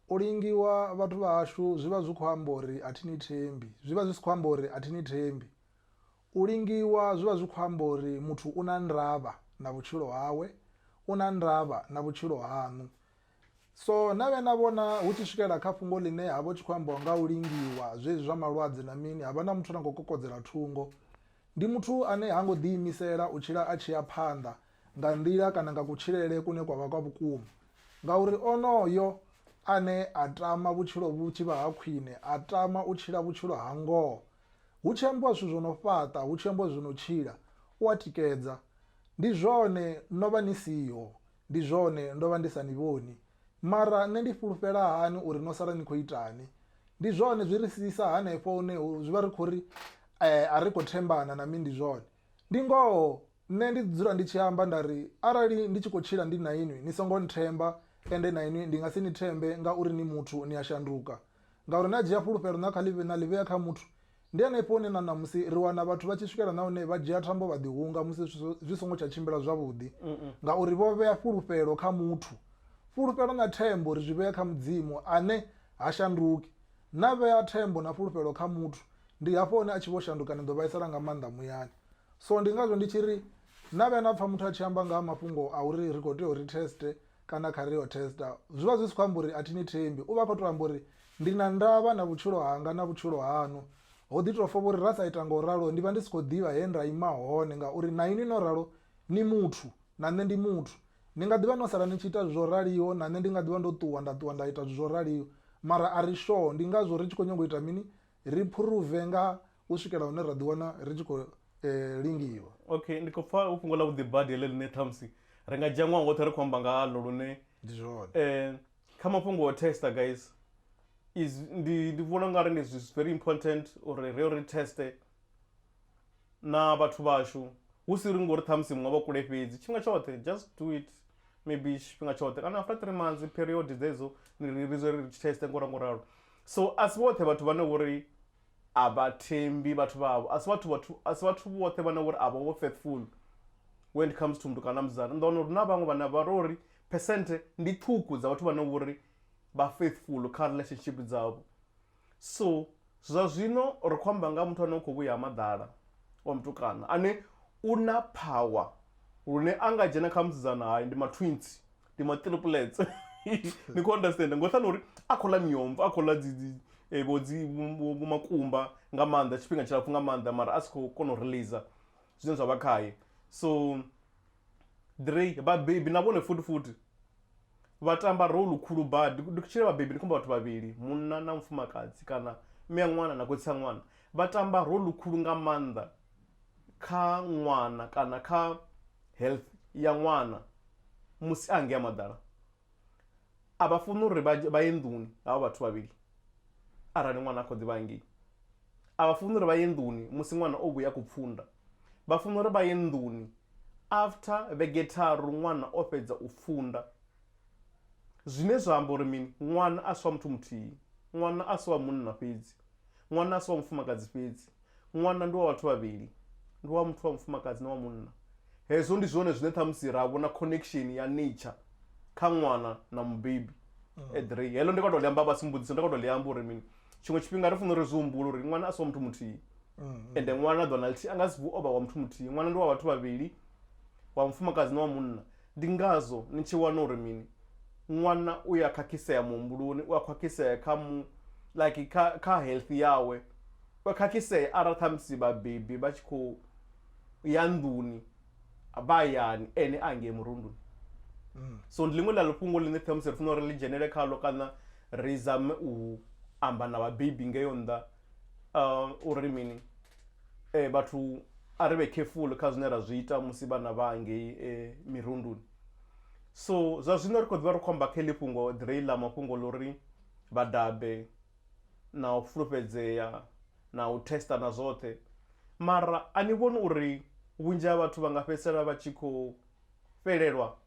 U lingiwa vhathu vha hashu zwi vha zwi khou amba uri a thi ni thembi, zwi vha zwi si khou amba uri a thi ni thembi. U lingiwa zwi vha zwi khou amba uri muthu u na ndavha na vhutshilo hawe, u na ndavha na vhutshilo haṋu. So na vhuya na vhona hu tshi swikela kha fhungo ḽine ha vha hu tshi khou ambiwa nga u lingiwa zwezwi zwa malwadze na mini, ha vha na muthu ane a khou kokodzela thungo. Ndi muthu ane ha ngo ḓiimisela u tshila a tshi ya phanḓa nga nḓila kana nga kutshilele kune kwa vha kwa vhukuma. Ngauri onoyo ane a tama vhutshilo vhu tshi vha ha khwine a tama u tshila vhutshilo ha ngoho. Hu tshi ambiwa zwithu zwo no fhaṱa, hu tshi ambiwa zwo no tshila, u a tikedza. Ndi zwone no vha ni siho, ndi zwone ndo vha ndi sa ni vhoni. Mara nṋe ndi fhulufhela hani uri no sala ni khou itani? Ndi zwone zwi ri siisa hanefho hune zwi vha ri khou ri a ri khou thembana na mini, ndi zwone. Ndi ngoho, nṋe ndi dzula ndi tshi amba nda ri, Arali ndi tshi khou tshila ndi na inwi, ni songo nthemba, ende na inwi ndi nga si ni thembe, ngauri ni muthu, ni a shanduka. Ngauri na dzhia fhulufhelo na kha ḽi, na ḽi vhea kha muthu. Ndi henefho hune na ṋamusi ri wana vhathu vha tshi swikela na hune vha dzhia thambo vha ḓihunga musi zwithu zwi songo tsha tshimbila zwavhuḓi, ngauri vho vhea fhulufhelo kha muthu. Fhulufhelo na thembo ri zwi vhea kha Mudzimu, ane ha shanduki. Na vhea thembo na fhulufhelo kha muthu, ndi hafho hune a tshi vho shanduka ni ḓo vhaisala nga maanḓa muyani so ndi ngazwo ndi tshi ri na vhuya na pfha muthu a tshi amba nga ha mafhungo a uri ri khou tea uri teste kana kha ri yo testa zwi vha zwi si khou amba uri a thi ni thembi u vha khou tou amba uri ndi na ndavha na vhutshilo hanga na vhutshilo haṋu ho ḓi tou fa vhori ra sa ita nga u ralo ndi vha ndi si khou ḓivha he nda ima hone ngauri na inwi no ralo ni muthu na nṋe ndi muthu ni nga ḓivha no sala ni tshi ita zwi zwo raliho na nṋe ndi nga ḓivha ndo ṱuwa nda ṱuwa nda ita zwi zwo raliho mara a ri shoho ndi ngazwo ri tshi khou nyanga u ita mini ri phuruve nga u swikela hune ra ḓiwana ri tshi khou lingiwa. Ok, ndi khou pfa hu fhungo ḽavhuḓi badi heḽo ḽine ṱhamusi ri nga dzhia ṅwaha woṱhe ri khou amba nga haḽo lune ndi zwone kha mafhungo o tester guys ndi vhona ungari ndi very important uri ri yo ri tester na vhathu vhashu hu si uri ngori ṱhamusi muṅwe vha kule fhedzi tshifhinga tshoṱhe just do it maybe tshifhinga tshoṱhe kana after three months period dzedzo ni ri ri ri tshi teste ngora ngo ralo so a si vhoṱhe vhathu vhane vhori a vha thembi vhathu vhavho a si vhathu vhathu a si vhathu vhoṱhe vhane vhori a vha vho faithful when it comes to mndu kana musidzana ni ḓo wana uri na vhaṅwe vhane vha ro uri phesenthe ndi ṱhukhu dza vhathu vhane vhori vha faithful kha relationship dzavho so zwa zwino ri khou amba nga muthu ane u khou vhuya ha maḓala wa mutukana ane u na power lune a nga dzhena kha musidzana hayi ndi matwins ndi matriplets ni khou understand ngo ṱhani uri a khou ḽa miomva a khou ḽa dzi eh, vho dzi makumba nga maanḓa tshifhinga tshilapfu nga maanḓa mara a si khou kona u release zwine zwa vha khaye so drey vhabebi na vhone futi futi Vha tamba role khulu badi. Ndi tshi ri vhabebi ndi khou amba vhathu vhavhili, munna na mufumakadzi kana mme a ṅwana na khotsi a ṅwana. Vha tamba role khulu nga maanḓa kha ṅwana kana kha health ya ṅwana musi a hangei ha maḓala. A vha funi uri vha ye nḓuni havha vhathu vhavhili arali ṅwana a kha ḓi vha hangei. A vha funi uri vha ye nḓuni musi ṅwana o vhuya kupfunda. Vha funa uri vha ye nḓuni after vhege tharu ṅwana o fhedza u pfunda. Zwine zwa amba uri mini? Ṅwana a si wa muthu muthihi. Ṅwana a si wa munna fhedzi. Ṅwana a si wa mufumakadzi fhedzi. Ṅwana ndi wa vhathu vhavhili. Ndi wa muthu wa mufumakadzi na wa munna. Hezwo ndi zwone zwine ṱhamusi ra vhona connection ya nature kha ṅwana na mubebi. Eḓrei. Heḽo ndi khou tou ḽi amba vha si mmbudzise, ndi khou tou ḽi amba uri mini? tshiṅwe tshifhinga ri fanela uri zwi humbula uri ṅwana a si wa muthu muthihi mm. ende ṅwana ḓona lithihi a nga si vuo vha wa muthu muthihi ṅwana ndi wa vhathu vhavhili wa mufumakadzi na wa munna ndi ngazwo ni tshi wana uri mini ṅwana u ya khakhisea muhumbuloni u a khakhisea kha mu like kha, kha health yawe u a khakhisea arali khamusi vhabebi vha tshi khou ya nḓuni a vha hayani ene a ngei murunduni mm. so ndi ḽiṅwe ḽa lufhungo ḽine ṱhamusi ri funa uri ḽi dzhenele khalo kana ri zame u amba na vhabebi ngeyo nnḓa uh, uri mini eh, vhathu a ri vhe careful kha zwine ra zwi ita musi vhana vha ngei eh, mirunduni so zwa zwino ri khou ḓivha ri khou amba kha ḽi fhungo ḓirei ḽa mafhungo ḽo ri vhadabe na u fulufhedzea na u tester na zwoṱhe mara a ni vhoni uri vhunzhi ha vhathu vha nga fhedzisela vha tshi khou fhelelwa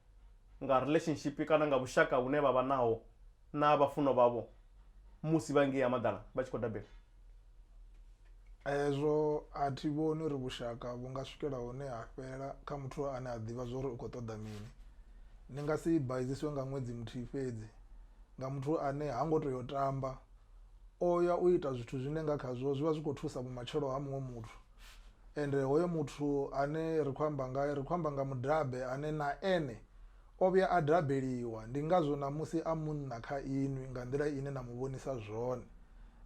nga relationship kana nga vhushaka vhune vha vha naho na vhafunwa vhavho musi vha ngei ha maḓala vha tshi khou dabela? Hezwo a thi vhoni uri vhushaka vhu nga swikela hune ha fhela kha muthu ane a ḓivha zwori u khou ṱoḓa mini ni nga si baidziswe nga ṅwedzi muthihi fhedzi nga muthu ane ha ngo tea u tamba, o ya u ita zwithu zwine nga khazwo zwi vha zwi khou thusa vhumatshelo ha muṅwe muthu. Ende hoyo muthu ane ri khou amba ngae ri khou amba nga mudabe ane na ene o vhuya a dabeliwa ndi ngazwo ṋamusi a munna kha inwi nga nḓila ine na mu vhonisa zwone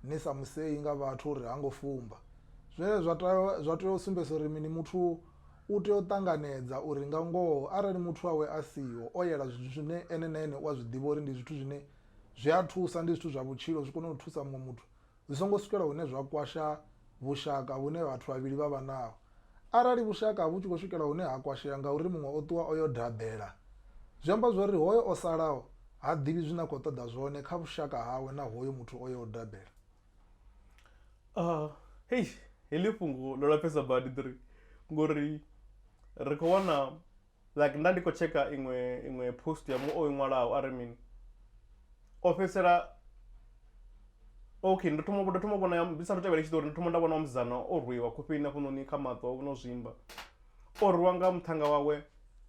ni sa musei nga vhathu uri ha ngo fumba. Zwine zwa tea zwa tea u sumbedzisa uri mini muthu U tea u ṱanganedza uri nga ngoho arali muthu wawe a siho, o yela zwithu zwine ene na ene u a zwi ḓivha uri ndi zwithu zwine zwi a thusa, ndi zwithu zwa vhutshilo, zwi kone u thusa muṅwe muthu, zwi songo swikela hune zwa kwasha vhushaka vhune vhathu vhavhili vha vha naho. Arali vhushaka vhu tshi khou swikela hune ha kwashea ngauri muṅwe o ṱuwa o yo daḓela, zwi amba zwa uri hoyo o salaho ha ḓivhi zwine a khou ṱoḓa zwone kha vhushaka hawe na hoyo muthu o yaho u daḓela. Uh, hei heḽi fhungo ḽo lapfesa badi ḓiri ngori ri khou wana like nda ndi khou tsheka iṅwe iṅwe post ya mu o i ṅwalaho a ri mini o fhedzisela okay ndo thoma ndo thoma vhona ndi sathu tevhela tshiṱori ndo thoma nda vhona wa musidzana o rwiwa khofheni hafhanoni kha maṱo no zwimba o rwiwa nga muṱhannga wawe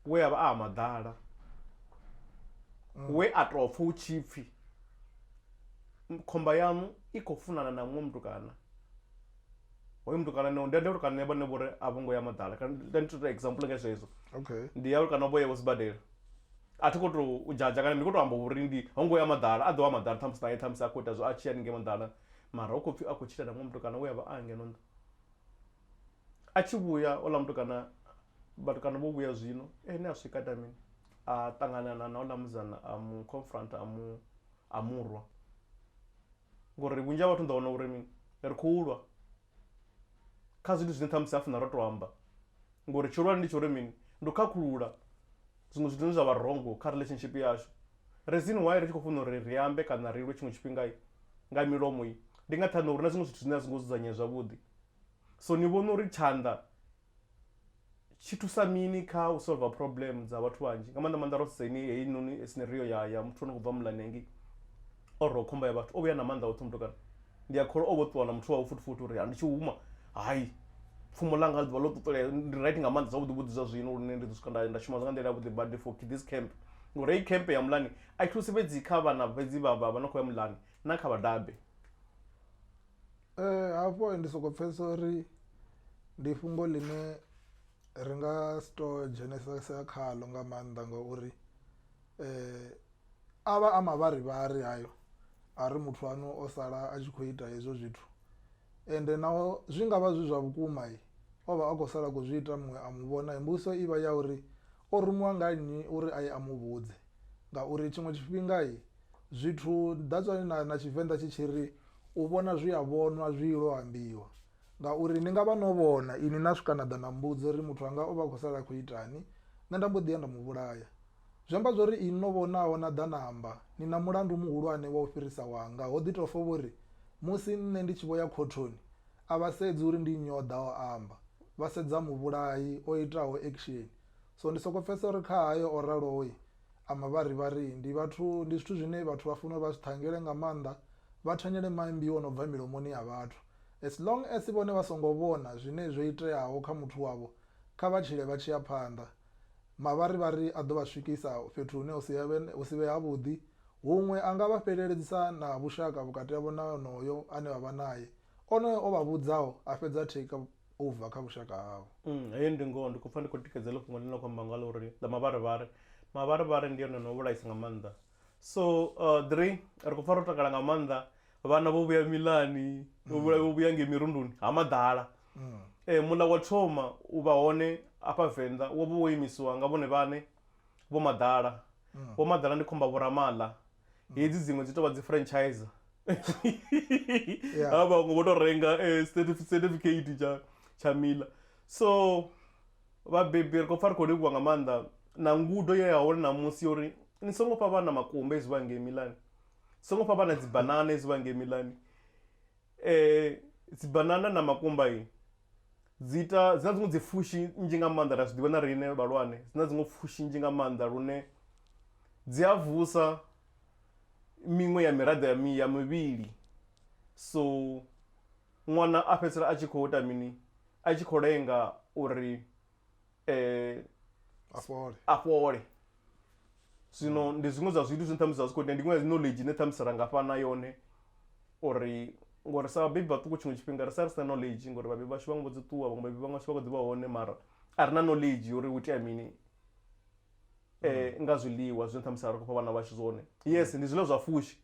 we a vha a maḓala we a tou pfha u tshipfhi Khomba yaṋu i khou funana na muṅwe mutukana, hoyo mutukana ni ndi amba uri kana vhone vho ri a vho ngo ya maḓala kana ndi tou ita example nga zwezwo. Okay. Ndi ya uri kana vho ya vho sibadela. A thi khou tou u judger kana ndi khou tou amba uri ndi ho ngo ya maḓala, a ḓo ya maḓala ṱhamusi nae ṱhamusi a khou ita zwo a tshi ya haningei maḓala mara hu khou pfhi a khou tshila na muṅwe mutukana we a vha a ngeno nnḓa. A tshi vhuya houḽa mutukana vhatukana vho vhuya zwino ene a swika a ita mini, a ṱangana na na houḽa musidzana a mu confronter a mu a murwa ngori vhunzhi ha vhathu ni ḓo wana uri mini ri khou lwa kha zwithu zwine ṱhamusi ha funa ro to amba ngori tshihulwane ndi tsho uri mini ndi u khakhulula zwiṅwe zwithu zwine zwa vha rongo kha relationship yashu reason why ri tshi khou funa uri ri ambe kana ri lwe tshiṅwe tshifhinga nga milomo i ndi nga nṱhani uri na zwiṅwe zwithu zwine a zwi ngo dzudzanyea zwavhuḓi so ni vhona uri tshanḓa tshi thusa mini kha u solver problem dza vhathu vhanzhi nga maanḓa maanḓa ro sedza ini heyi noni scenario ya ya muthu ano khou bva muḽani hangei o rwa khomba ya vhathu o vhuya na maanḓa oṱhe mutukana ndi a kholwa o vho ṱuwa na muthu wawe futhi futhi uri ndi tshi huma hai pfumo ḽanga ḽi ḓuvha ḽo ṱuṱulea ndi right nga maanḓa zwavhuḓi vhuḓi zwa zwino lune ndi ḓo swika nda nda shuma zwa nga nḓila yavhuḓi badi for this camp ngori heyi camp ya muḽani a i thusi fhedzi kha vhana fhedzi vha vha vha no khou ya muḽani na kha vhadabe Hafho ndi soko pfesesa uri ndi fhungo ḽine ri nga si to dzhenesesa khaḽo nga maanḓa ngauri a vha a mavharivhari hayo a ri muthu waṋu o sala a tshi kho ita hezwo zwithu, ende naho zwi ngavha zwi zwa vhukuma ovha a kho sala a khou zwi ita muṅwe a muvhona mbudziso ivha ya uri O rumiwa nga nnyi uri a ye a mu vhudze? Ngauri tshiṅwe tshifhinga zwithu that's why na na Tshivenḓa tshi tshi ri u vhona zwi a vhonwa zwi ilo ambiwa. Ngauri ni nga vha no vhona inwi na swika na ḓa na mbudza uri muthu anga o vha a khou sala a khou itani nṋe nda mbo ḓi ya nda mu vhulaya. Zwi amba zwa uri inwi no vhonaho na ḓa na amba ni na mulandu muhulwane wa u fhirisa wanga ho ḓi tou fa vho ri musi nṋe ndi tshi vho ya khothoni A vha sedzi uri ndi nnyi o ḓa o amba, vha sedza muvhulayi o itaho ekisheni. So ndi sokou pfesesa uri kha hayo o raloyi a mavharivhari ndi vhathu, ndi zwithu zwine vhathu vha fanela uri vha zwi ṱhangele nga maanḓa, vha thanyele maimbi o no bva milomoni ya vhathu. As long as vhone vha songo vhona zwine zwo iteaho kha muthu wavho, kha vha tshile vha tshi ya phanḓa. Mavharivhari a ḓo vha swikisa fhethu hune hu si ya vhe, hu si vhe havhuḓi, huṅwe a nga vha fheleledzisa na vhushaka vhukati havho na onoyo ane vha vha nae. Onoyo o vha vhudzaho a fhedza a take over kha vhushaka havho. Umm heyo ndi ngoho ndi khou pfa ndi khou tikedza heḽo fhungo ḽine na khou amba ngalo uri ḽa mavharivhari mavharivhari ndi one ono vhulaisa nga maanḓa so ḓiri ri khou pfa ro takala nga maanḓa vhana vho vhuya milani vho vhulayo vho vhuya ngei mirunduni ha maḓala muḽa wa thoma u vha hone afha venḓa wo vha wo imisiwa nga vhone vhane vho maḓala vho maḓala ndi khomba vho ramaḽa hedzi dziṅwe dzi tovha dzi franchise ha vhaṅwe vho to renga eh, certificate tsha tsha mila so vhabebi ri khou pfa ri khou livhuwa nga maanḓa na ngudo ye ya hone ṋamusi yo uri ni songo fha vhana makumba ezwi vha ngei milani songo fha vhana dzibanana ezwi vha ngei milani dzibanana na makumba dzi ita, dzi na dziṅwe dzi pfhushi nnzhi nga maanḓa ra zwiḓivha na riṋe vhahulwane, dzi na dziṅwe pfhushi nnzhi nga maanḓa lune dzi a vusa miṅwe ya miraḓo ya mi ya mivhili so ṅwana a fhedzisela a tshi kho ita mini a tshi kho lenga uri eh, a fhole a fhole zwino ndi zwiṅwe zwa zwithu zwine ṱhamusi zwa zwi khou itea ndi iṅwe ya knowledge ine ṱhamusi ra nga fhana yone uri ngori sa vhabebi vhaṱuku tshiṅwe tshifhinga ri sa ri sina knowledge ngori vhabebi vhashu vhaṅwe vho dzi ṱuwa vhaṅwe vhabebi vhaṅwe vhashu vha kho ḓi vha hone mara a ri na knowledge uri hu itea mini eh, nga zwiḽiwa zwine ṱhamusi a ri khou fha vhana vhashu zwone yes ndi zwiḽiwa zwa fushi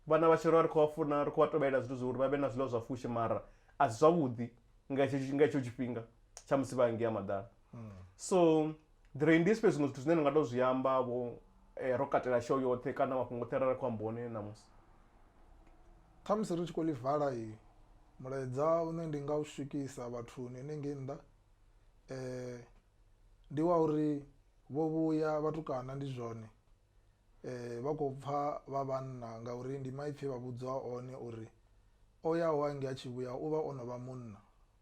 vhana vhashu ri vha ri khou vha funa ri khou vha tovhelela zwithu zwa uri vha vhe na zwiḽiwa zwa fushi mara a si zwavhuḓi nga hetsho nga hetsho tshifhinga tshamusi vha ngea maḓana mm. so there ndi space zwiṅwe zwithu zwine ni nga to zwi amba vho eh, ro katela show yoṱhe kana mafhungo oṱhe arali khou amba one ṋamusi khamusi ri tshi khou ḽi vala i mulaedza une ndi nga u swikisa vhathuni henengei nnḓa um ndi wa uri vho vhuya vhatukana ndi zwone vha khou pfa vha vhanna ngauri ndi maipfi e vha vhudzwa one uri o yaho hangei a tshi vhuya u vha o no vha munna.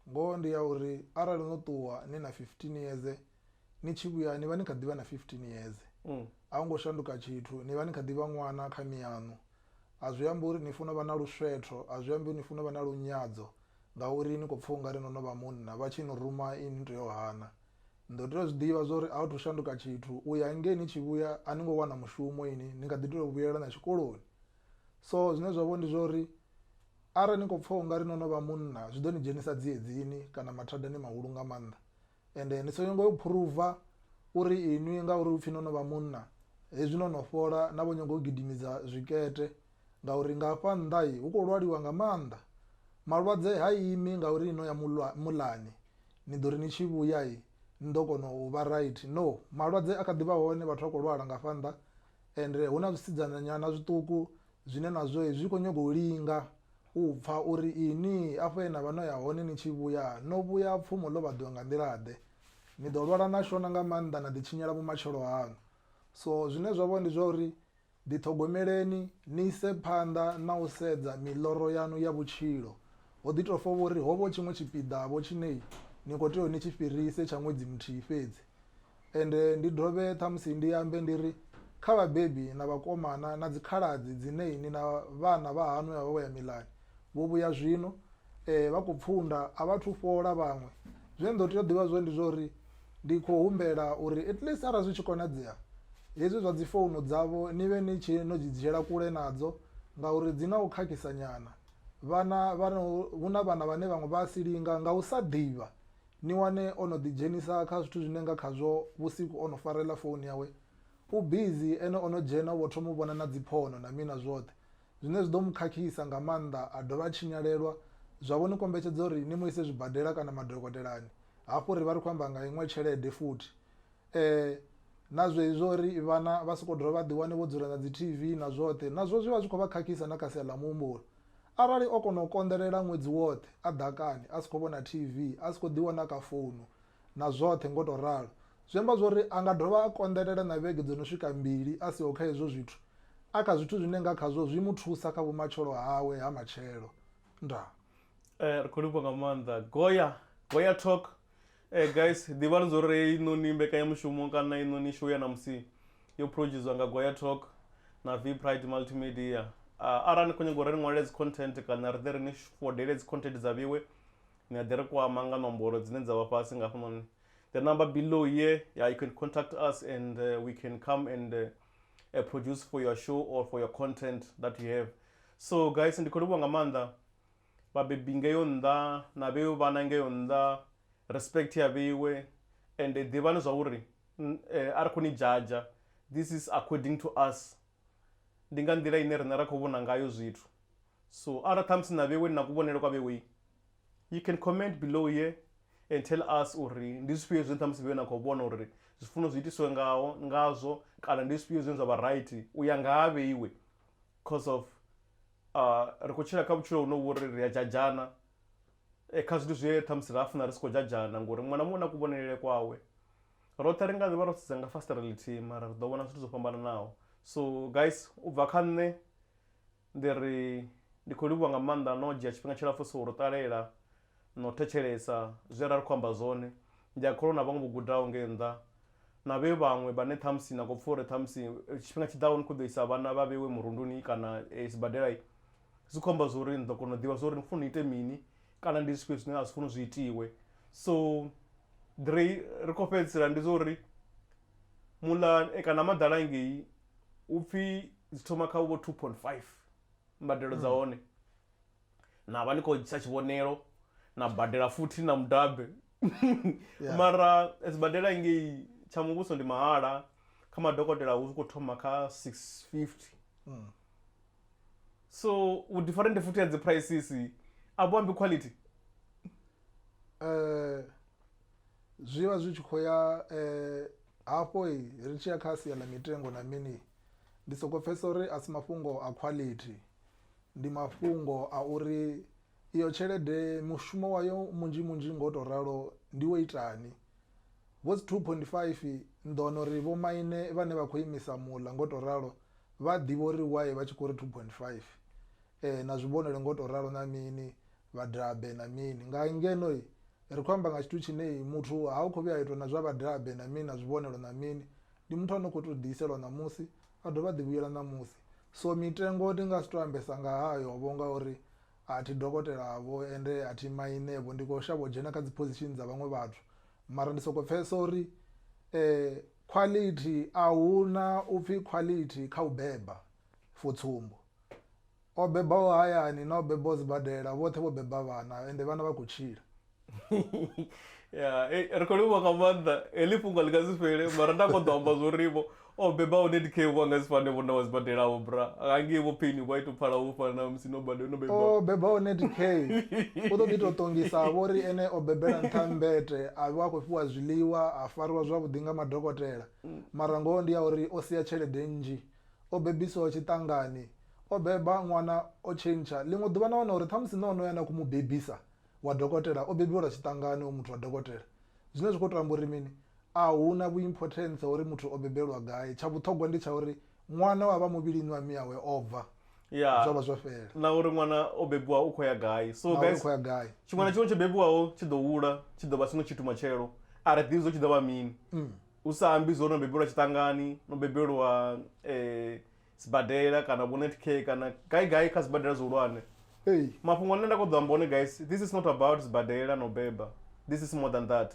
Ngoho ndi ya uri arali no ṱuwa ni na 15 years ni tshi vhuya ni vha ni kha ḓi vha na 15 years. A hu ngo shanduka tshithu, ni vha ni kha ḓi vha ṅwana kha miyaṋu. A zwi ambi uri ni funa u vha na luswetho, a zwi ambi uri ni funa u vha na lunyadzo ngauri ni khou pfa u nga ri no no vha munna, vha tshi ni ruma inwi ni tea u hana. Ni ḓo tea u zwi ḓivha zwa uri a hu thu shanduka tshithu u ya ngei ni tshi vhuya a ni ngo wana mushumo ini ni kha ḓi tea u vhuyelela na tshikoloni. So zwine zwa vha uri ndi zwa uri arali ni kho pfha u nga ri no no vha munna zwi ḓo ni dzhenisa dzi edzini kana mathadani mahulu nga maanḓa, ende ni songo nyaga u phuruva uri inwi ngauri hupfi no no vha munna hezwi no no fhola na vho nyaga u gidimisa zwikete Ngauri nga hafha nnḓa hu khou lwaliwa nga maanḓa, malwadze ha imi ngauri ni no ya muḽani ni ḓo ri ni tshi vhuya ni ḓo kona u vha raithi. No, malwadze a kha ḓivha hone vhathu vha khou lwala nga hafha nnḓa ende hu na zwisidzana nyana zwiṱuku zwine nazwo zwi kho nyaga u linga u pfha uri ini afho he navha no ya hone ni tshi vhuya no vhuya pfumo ḽo vhaḓiwa nga nḓila ḓe, ni ḓo lwala na shona nga maanḓa na ḓi tshinyela vhumatshelo haṋu. So zwine zwavha ndi zwa uri Ḓiṱhogomeleni ni ise phanḓa na u sedza miḽoro yaṋu ya vhutshilo. Ho ḓi tou fa vho ri ho vha hu tshiṅwe tshipiḓa-vho tshine ni khou tea uri ni tshi fhirise tsha ṅwedzi muthihi fhedzi. Ende ndi dovhe ṱhamusi ndi ambe ndi ri, Kha vhabebi na vhakomana na dzikhaladzi dzine inwi na vhana vhahaṋu he vha vha vho ya milani, Vho vhuya zwino, ee, vha khou pfunda, a vha athu fhola vhaṅwe. Zwe ni ḓo tea u ḓivha zwone ndi zwa uri ndi khou humbela uri at least arali zwi tshi konadzea hezwi zwa dzi founu dzavho ni vhe ni tshi no dzi dzhiela kule nadzo ngauri dzi na u khakhisa nyana. Vhana vha no, hu na vhana vhane vhaṅwe vha a si linga nga u sa ḓivha, ni wane o no ḓidzhenisa kha zwithu zwine nga khazwo vhusiku o no fara heiḽa founu yawe u busy ene o no dzhena u vho thoma u vhona na dzi phono na mini na zwoṱhe. Zwine zwi ḓo mu khakhisa nga maanḓa a dovha a tshinyalelwa, zwa vho ni kombetshedza uri ni mu ise zwibadela kana madokotelani, hafhu ri vha ri khou amba nga iṅwe tshelede futhi. Ee, na zwezwi zwa uri vhana vha sokou dovha vha ḓiwane vho dzula na dzi TV na zwoṱhe, nazwo zwi vha zwi khou vha khakhisa na kha sia ḽa muhumbulo. Arali o kona u konḓelela ṅwedzi woṱhe a ḓakani, a si khou vhona TV, a si khou ḓiwana kha founu, na zwoṱhe ngo tou ralo. Zwi amba zwori a nga dovha a konḓelela na vhege dzo no swika mbili a siho kha hezwo zwithu, a kha zwithu zwine nga khazwo zwi mu thusa kha vhumatshelo hawe ha matshelo. Ndaa. Eh ri kho livhuwa nga maanḓa Goya Goya Talk eh guys ḓivhani zwori heinoni mbekanyamushumo kana heinoni show ya ṋamusi yo producer nga Goya Talk na V Pride Multimedia. Arali ni kho nyaga uri ri ṅwalele dzi content kana ri ḓe ri ni fodele dzi content dza vhiwe ni nga ḓi ri kwama nga nomboro dzine dza vha fhasi nga hafhanoni the number below here yeah, you can contact us and uh, we can come and uh, uh, produce for your show or for your content that you have so guys ndi khou livhuwa nga maanḓa vhabebi ngeyo nnḓa na vheyo vhana ngeyo nnḓa respect ya vheiwe and ḓivhani zwa uri eh, a ri khou ni jaja this is according to us ndi nga nḓila ine riṋe ra khou vhona ngayo zwithu. So arali ṱhamusi na vhewe ni na kuvhonele kwa vhewe, you can comment below here and tell us uri ndi zwifhio zwine ṱhamusi vhewe na khou vhona uri zwi funa zwi itiswe ngaho ngazwo kana ndi zwifhio zwine zwa vha right u ya nga ha vheiwe coz of ri khou tshila kha vhutshilo hune vhori ri a jajana kha zwithu zwe ṱhamusi ra funa ri si khou jajana ngori muṅwe na muṅwe u na kuvhonele kwawe. Roṱhe ri nga ḓivha ro sedza nga fasiṱere ḽithihi mara ri ḓo vhona zwithu zwo fhambananaho. So guys u bva kha nṋe ndi ri ndi khou livhuwa nga maanḓa no dzhia tshifhinga tshilapfu so ro ṱalela na u thetshelesa zwe ra ri khou amba zwone. Ndi a kholwa na vhaṅwe vho gudaho ngei nnḓa na vhe vhaṅwe vhane ṱhamusi na khou pfha uri ṱhamusi tshifhinga tshi ḓaho ni khou ḓo isa vhana vha vheiwe murunduni kana sibadela zwi khou amba zwori ni ḓo kona u ḓivha zwori ni khou funa ni ite mini kana ndi zwifhio zwine a zwi funi zwi itiwe so ri khou fhedzisela ndi zwori muḽa kana ha maḓala ngei upfhi dzi thoma kha vho two point five mbadelo dza hone na vha ni khou ḓisa tshivhonelo na badela futhi na mudabe mara sibadela ngei tsha muvhuso ndi mahala kha madokotela hu kho thoma kha six fifty. so u different futhi ya dzi prices a vhu ambi quality eh zwi vha zwi tshi khou ya eh hafho i ri tshi ya kha sia ḽa mitengo na mini ndi soko pfhesesa uri a si mafhungo a quality ndi mafhungo a uri iyo tshelede mushumo wayo munzhi munzhi ngo to ralo ndi wo itani vho dzi 2.5 ni ḓo wana uri vho maine vhane vha khou imisa muḽa ngo to ralo Vha ḓivha uri why vha tshi khou ri 2.5 ee na zwi vhonele ngo to ralo na mini vha dabe na mini nga ngeno ri kho amba nga tshithu tshine muthu ha u kho vhuya itwa na zwa vha dabe na mini na zwi vhonelo na mini ndi muthu ano kho to ḓi iselwa ṋamusi a dovha a ḓi vhuyela ṋamusi. So mitengo ndi nga si to ambesa nga hayo vho nga uri a thi dokotela vho ende a thi maine vho ndi kho shavha u dzhena kha dzi position dza vhaṅwe vhathu mara ndi soko pfhesesa uri . Khwalithi, A hu na u pfi khwalithi kha u beba. For tsumbo, o bebaho hayani na o bebaho sibadela vhoṱhe vho beba vhana ende vhana vha khou tshila. Ya, hei, ri khou livhuwa nga maanḓa. Heḽi fhungo a ḽi nga si fhele, mara nda kho ḓo amba zwa uri vho o bebaho Netcare vho a nga si fane vho na wa sibadela-vho, bra. Hangei vho Payne vho a ita u pfala vho fana na musi no bade, no O bebaho. bebaho Netcare u ḓo ḓi tou ṱongisa-vho ri ene o bebela nṱha ha mmbete, a vha a khou fhiwa zwiḽiwa, a. fariwa zwavhuḓi nga madokotela. Mara ngoho ndi ya uri o sia tshelede nnzhi. O bebiswaho tshiṱangani. O beba ṅwana o tshentsha. Ḽiṅwe ḓuvha na wana uri ṱhamusi na onoyo ane a khou mu bebisa wa dokotela o bebiwa lwa tshiṱangani hoyu muthu wa dokotela. Zwine zwa khou tou amba uri mini? A hu na vhu-importance ha uri muthu o bebelwa gai. Tsha vhuṱhogwa ndi tsha uri ṅwana wa vha muvhilini wa miawe o bva yeah. zwo vha zwo fhela na uri ṅwana o bebiwa u khou ya gai so guys khou ya gai tshiṅwe na tshiṅwe tsho bebiwaho tshi ḓo hula tshi ḓo vha sino tshithu matshelo a ri ḓivhi zwo tshi ḓo vha mini mm. u sa ambi zwo no bebelwa tshiṱangani no bebelwa eh, sibadela kana vho net care kana gai gai kha sibadela zwihulwane hey. mafhungo ane nda kho ḓo amba one guys this is not about sibadela no beba this is more than that